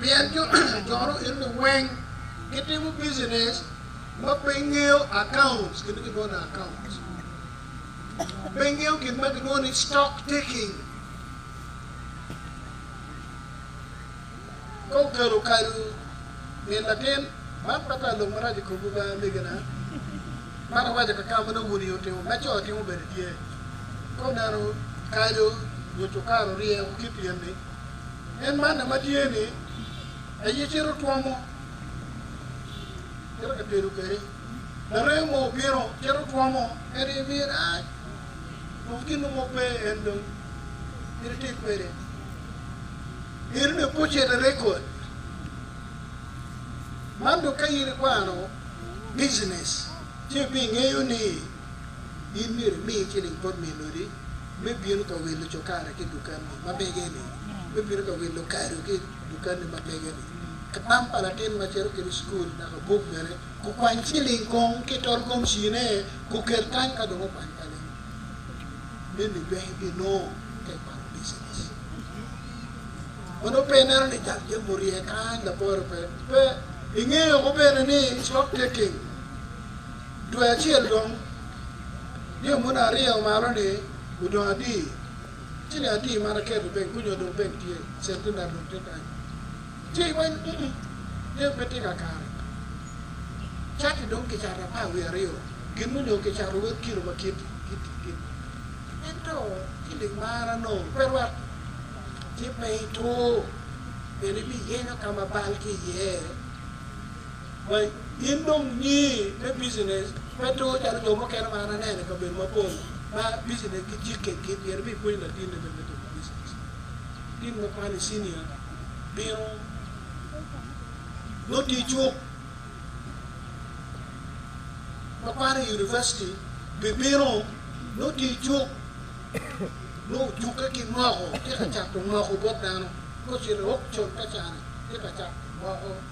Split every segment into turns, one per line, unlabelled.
pien jo cono eno-ni weng gitimo business ma pe gingeyo accounts, gin ma gilwongo ni accounts, pe gingeyo gin ma gilwongo ni stock taking. Ka okelo kadu min latin, man pe ta lok marac i komwu be amegina, man awaco ka kama nongo wun aye wutimo, ma co timo bene tye. Ka oneno kadu nyo cukar orye woko ki i pien-ni, En manna ma tye ni aye cito twomo, cito ka tedo kwede. Larem mo obino, cito twomo, en aye miyo rac. Dong gin mo pe en dong mito itim kwede. Eno ni bucet erekod. Man dong ka in ikwano business ci ibingeyo ni. in myero imi ciling bot min odi me bino ka wilo cokari ki i dukanni ma mege-ni, me bino ka wilo kado ki i dukanni ma mege-ni, kalam pa latin ma cito kwede i cukul naka buk bene. Gukwany ciling kong ki i tol gomcine, gukel kany ka dong okwany kalam. Meni pe ibinongo kec pa lubicinec ma nongo pe ineno ni jal jami orye kany, laporo pe. Pe ingeyo bene ni stock taking. Dwe acel dong, nio muni arye omalo ni odong adi, ciling adi man aketo ibeng ku nyo dong peng tye, centenary dong tye kany. Ci iweny ni ung, nio pe tye ka kare. Cati dong kicato apar wiye aryo, gin mu nyo kicato wek kilo ma kiti kiti kiti. Ento ciling man anongo pe rwat, ci pe itur, pien ibiyenyo ka ma bal tye iye. Wek in dong wunye me business pe two calo jo mukene ma an aneno i kabedo mapol ma business gi jikke gin myero ibin ipwony latinni bene me timo business. Latin ma kwano i senior bino nongo tye icuk, ma kwano i University bibino nongo tye icuk nongo ojukke ki moko tye ka cato moko bot dano ka ocito i auction ka cani tye ka cato moko.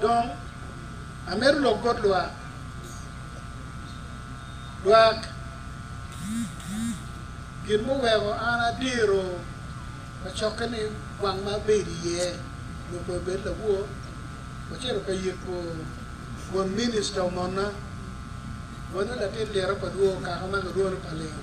Dong amito lok bot lwak, lwak gin muweko an adiro kacokke ni gwang ma abedo iye nyo pe obed lawo, wacito ka yiko won minista omona, wano latin liro pa dwoo okaka ma kilwongo ni Palingo.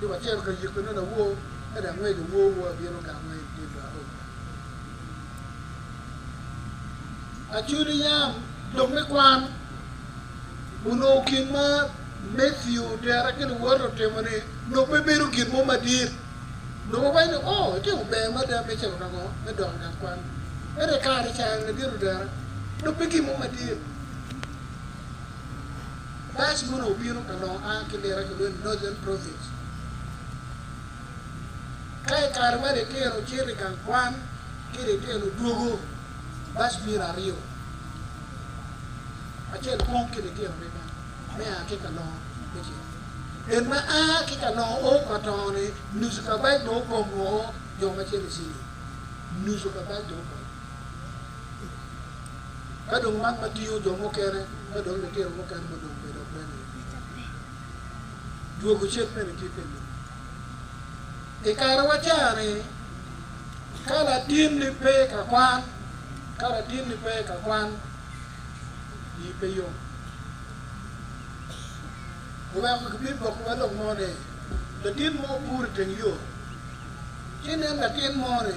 Yo acel ka yiko ne lawor ento angec awor wor abino gamme i dye lwak ot. Acudi yam lok me kwan onongo gin ma Matthew tera ki luwote otimo ni nongo pe bedo gin mo madit. Nongo wawaco ni oh itimo ber mada me cito ka ngo me dok i gang kwan. Ento i kare cani ladit otera nongo pe gin mo madit. Bac mono obino ka lok a ki liro a kilwongo ni Northern Province. Ka i kare ma litino cito i gang kwan ki litino dwogo, bac bino aryo, acel kong ki litino adada me a ki ka lok me ceng. En ma a ki ka lok o ka to-ni nucu ka bac dong opong woko, jo ma cito i ceng-ngi nucu ka bac dong opong. Ka dong man ma tingo jo mukene ma dong litino mukene ma dong bedo bene i wi tabine, dwogo cen mene tye pi lobo. I karewa ca-ni, ka latinni pe ka kwan, ka latinni pe ka kwan, ii pe yom. Oweko gibibokkiwa lok mo ni, latin mo opuro i teng yo, ci nen latin mo-ni,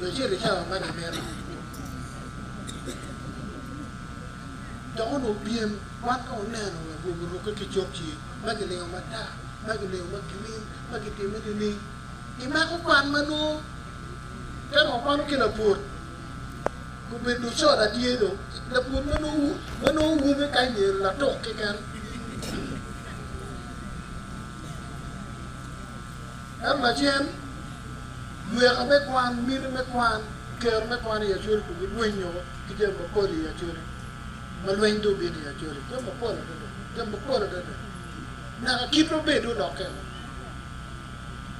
jo cito i cawa ma gimito. Dok onongo pyem wan ka wuneno wa gwogi orukke ki cokci, ma gilingo matar, ma gilingo ma girin, ma gitimme nining? Imako kwan ma nongo ka dong wakwano ki lapur gubedo dong coda tye dong. Lapur ma nongo ma nongo wume ka anyero latuk keken. Ento lacen, lweka me kwan, miti me kwan, kero me kwan i Acholi kun gilwenyo ki jami mapol i Acholi ma lweny dong obino i Acholi, jami mapol adada, jami mapol adada. Nyaka kitwa bene dong olokke woko,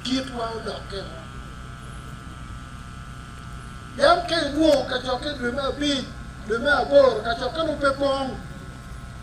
kitwa olokke woko. Yam ka inwongo kacokke i dwe me abic, dwe me aboro, kacokke dong pe pong.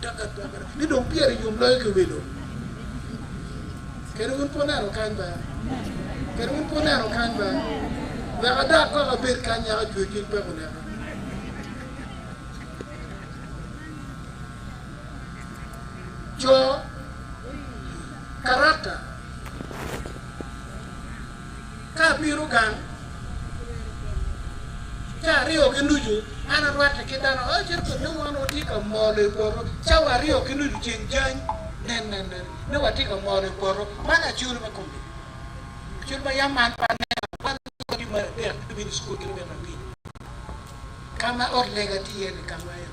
Dok agwokke ni dong pire yom loyo ki welo. Kadi wun pe wuneno kany be? Kadi wun pe wuneno kany be? Wek adak kok abed kany nyaka ajwe cwiny peko oneka. Co, Karakta. Ka abino gang, ca aryo ki nucu, an arwatte ki dano acel kun nongo wan watye ka molo i poto. Cawa aryo ki nucu ceng jany, nen, nen, nen, nongo watye ka molo i poto. Man aye cul me kom lok. Cul ma yam an pe aneno, wan watye ki mar adek, lubini cukul ki lubini abiro, ka ma ot lega tye iye-ni ka ma en.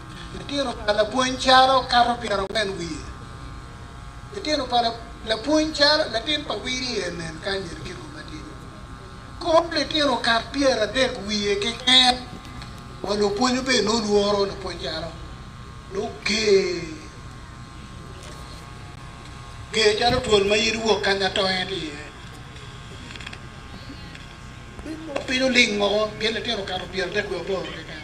Litino pa lapwony calo kato pyerangwen wiye. Litino pa lapwony calo latin pa Wirie nen kany en kiko matidi. Kor litino kat pyeradek wiye keken wa lupwony obedo ni olworo lapwony calo dok ger ger calo twol ma yadi wok kany atonge tye iye. Bino ling moko gin litino kato pyeradek wiye aboro keken.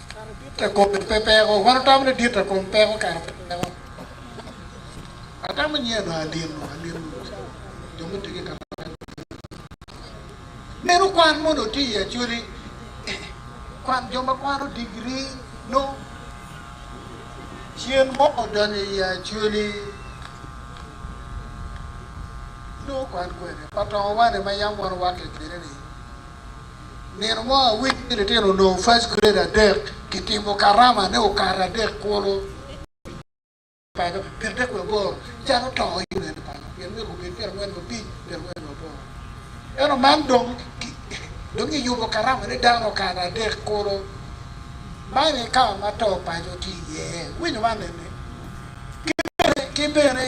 te kome pe peko. Wan watamo ni dit te kom peko kara pe peko. Atamo nyeno anino anino jo mutye ki kare ma meno kwan mono otye i Acholi kwan jo ma kwano digiri nongo cen mo odonyo i Acholi nongo kwan kwene pa tongo wane ma yam wan wake kwede ni. Nino mo awiki ni litino onongo first grade adek kitimo karama ne okato adek kulu paco pyerdek wiye aboro can otongo yo nene paco pien myero gubed pyerangwen wa abic pyerangwen wa aboro eno man dong dong giyubo karama ne dano okato adek kulu man e ka ma to paco tye iye iwinyo man nene kibene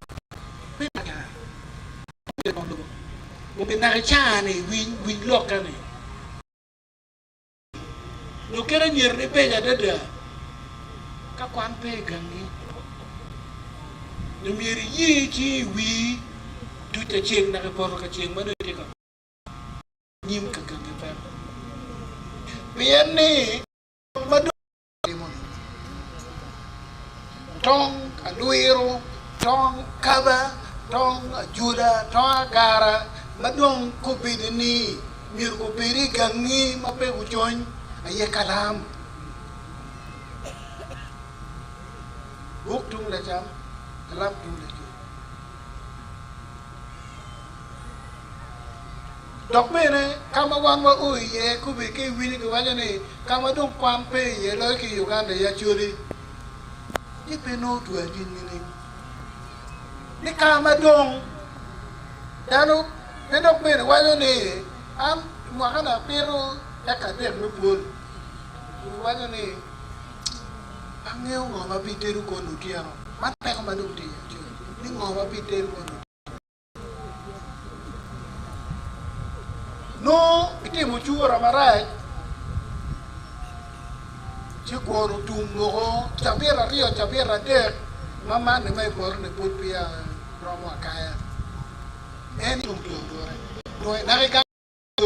me Lakana ma obedo bot lobo obi naka i caa-ni, winy, winy lokka-ni. Nyo kit anyirni beco adada ka kwan pe i gangi. Nyo myero iye ci iwii duc acel naka i poto ka ceng ma nongo itye ka kwan nyim ka gangi peko. Pien ni, lok ma dong. timo-ni. Tong alwiro, tong kaba, tong ajuda, tong agara ma dong kobedi ni myero gubed i gangi ma pe gucony aye kalam. Buk tung lacam, kalam tung lacuc. Dok bene, ka ma wan wao iye kobbe ki i wili giwaco ni ka ma dong kwan pe iye loyo ki i Uganda i Acholi, ni pe nongo otwe anyim nining? Ni ka ma dong dano pe dok bene waco ni an mwakana apito eka adek me pwony, kun giwaco ni, Angeyo ngo ma bitedo kwon otyeno. Man peko ma dong tye iye acel ni ngo ma bitedo kwon otyeno. Nongo bitimo cura marac ci kwon otum moko cabit aryo cabit adek ma manni ma i poto-ni pud peya romo akaya. En tum dong dure. Nongo inaka ki gang-nyu.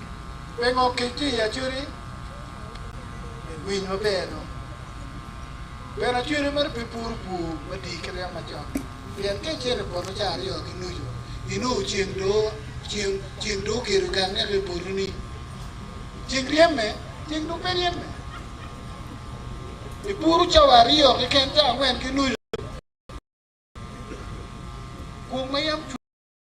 Pingo kic tye i acwedi me winy maber dong bene acwedi mere pe puro pur madii kit yam macon pien ka icito i poto ca aryo ki nucu inongo ceng doo ceng ceng doo ogedo gang neke i poto ni ceng ryeme ceng dong pe ryeme ipuro ca wa aryo keken ca angwen ki nucu kung ma yam cwer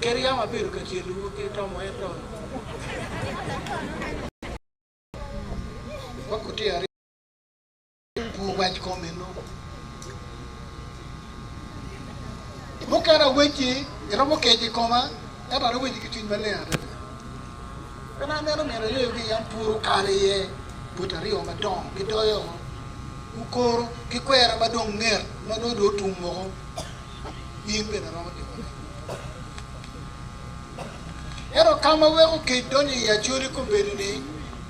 Kadi yam abedo ka cenowu ki tomo, ento wakutye aryebwu wac kom eno. Mukene awecci, iromo kec i koma, ento an awecci ki cwiny maleng adada. Pien aneno nino ayeyo ki yam pwod okalo iye, boti aryo madongo gidoyo oko, gukoro, gikwera ma dong nget ma nongo dong otum woko. in bene iromo timone. Ento ka ma weko kec donyo i Acoli kobedo ni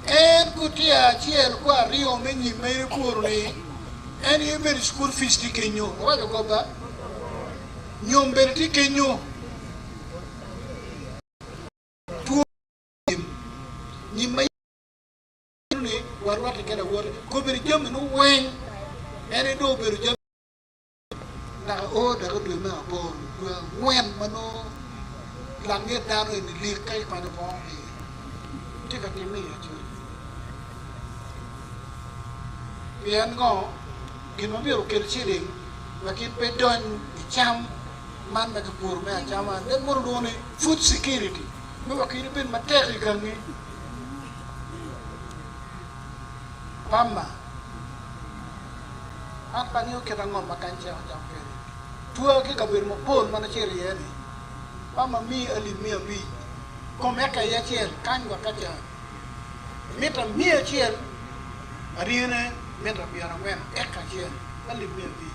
en gutiya acel ku aryo me nyim ma in ikuru ni en aye bedo cukul fic tye kenyo, iwaco kop ba? Nyom bene tye kenyo. Two nyim, nyim ma bedo ni warwatte ki lawote, kobedo jami ni weng en aye dong obedo jami. naka o dako dwe me aboro, dwe angwen ma nongo Langet dano eni lik ka ipanyo bongo iye, tye ka timme i Australia. Pien ngo? Gin ma myero okel ciling ma gin pe dony i cam man ma kipuro me acama, and then mono lwongo ni food security, me wek in ibed matek i gangi. Pamma, an pe angeyo kit ango ma kany cek ocako kwede. Twaa ki i kabedo mapol ma nacito iye-ni. Pamma miyi alip miya abic kom eka aye acel kany wek acan. Mita miya acel, aryene mita pyerangwen eka acel, alip miya abic.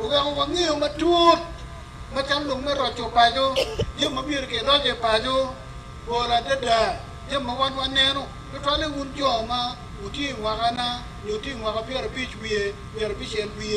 oweko wangeyo matut macalo lok me roco paco, jami ma myero kiroc i paco, bor adada jami ma wan waneno, tutwalle wun jo ma wutye i mwakana nyo wutye i mwaka pyerabic wiye pyerabicel wiye.